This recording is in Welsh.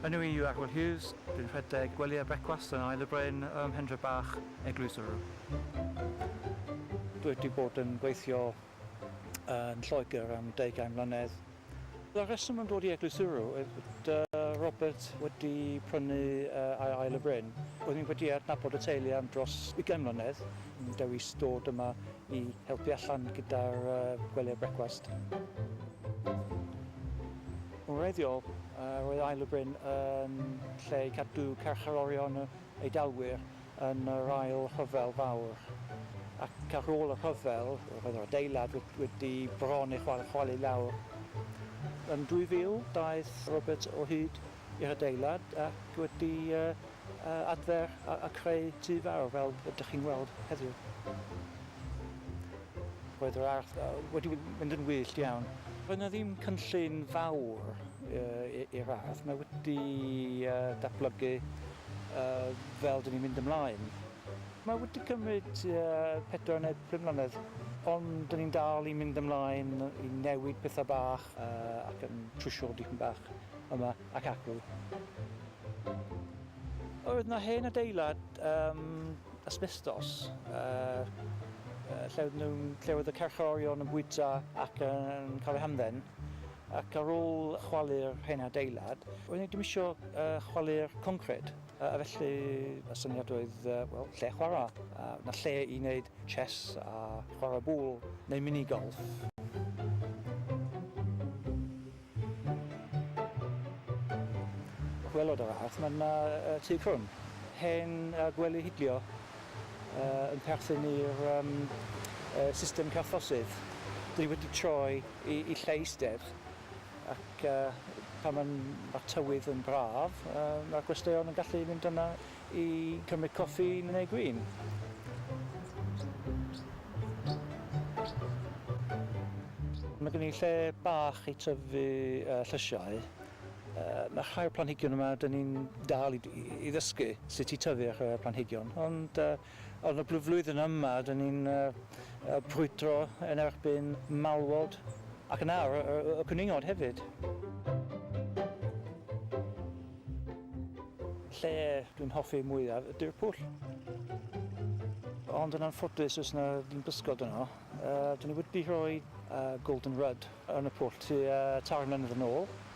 Enw i yw Arwel Hughes, dwi'n rhedeg gwely a brecwast yn Ael y Bryn ym Mhendre Bach, Eglwys Ddwrw. Dwi wedi bod yn gweithio yn Lloegr am deugain mlynedd. Y rheswm am dod i Eglwys Ddwrw yw bod Robert wedi prynu ar Ael y Bryn. Roeddwn i wedi adnabod y teulu am dros ugain mlynedd, yn dewis dod yma i helpu allan gyda'r gwelyau brecwast. Yn wreiddiol, roedd Ail y Bryn yn lle i gadw carcharorion yr Eidalwyr yn yr Ail Rhyfel Fawr, ac ar ôl y rhyfel, roedd yr adeilad wedi bron ei chwalu lawr. Yn 2000, daeth Robert o hyd i'r adeilad ac wedi adfer a creu tŷ fawr fel ydych chi'n weld heddiw. Roedd yr ardd wedi mynd yn wyllt iawn. Roedd yna ddim cynllun fawr i'r ardd, mae wedi datblygu fel dyn ni'n mynd ymlaen. Mae wedi cymryd pedwar neu pum mlynedd ond dyn ni'n dal i mynd ymlaen i newid pethau bach ac yn trwsio dipyn bach. yma ac acw. Oedd yna hen adeilad um, asbestos, uh, uh, lle, oedd nhw'n, lle oedd y carchorion yn bwyta ac yn cael eu hamdden, ac ar ôl chwalu'r hen adeilad, oedd ddim eisiau uh, chwalu'r concred. A felly y syniad oedd, wel, lle chwarae. A na lle i wneud chess a chwarae bŵl neu mini-golf. Wel o dy law, mae yna tŷ crwn, hen a gwely hidlio, yn perthyn i'r system carthosydd. Dan ni wedi troi i lle eistedd ac pan mae'r tywydd yn braf, mae'r gwesteion yn gallu mynd yna. i cymryd coffi neu gwin. Mae gen i lle bach i tyfu uh, llysiau. Uh, mae rhai o'r planhigion yma, dyn ni'n dal i, i ddysgu sut i tyfu a chreu'r planhigion, ond uh, Yn y blwyddyn yma, dyn ni'n brwydro yn erbyn malwod ac yn ar y cwningod hefyd. Lle dwi'n hoffi mwyaf ydy'r pwll. Ond yn anffodus does 'na ddim bysgod yno. Dyn ni wedi rhoi golden rudd yn y pwll tua tair mlynedd yn ôl.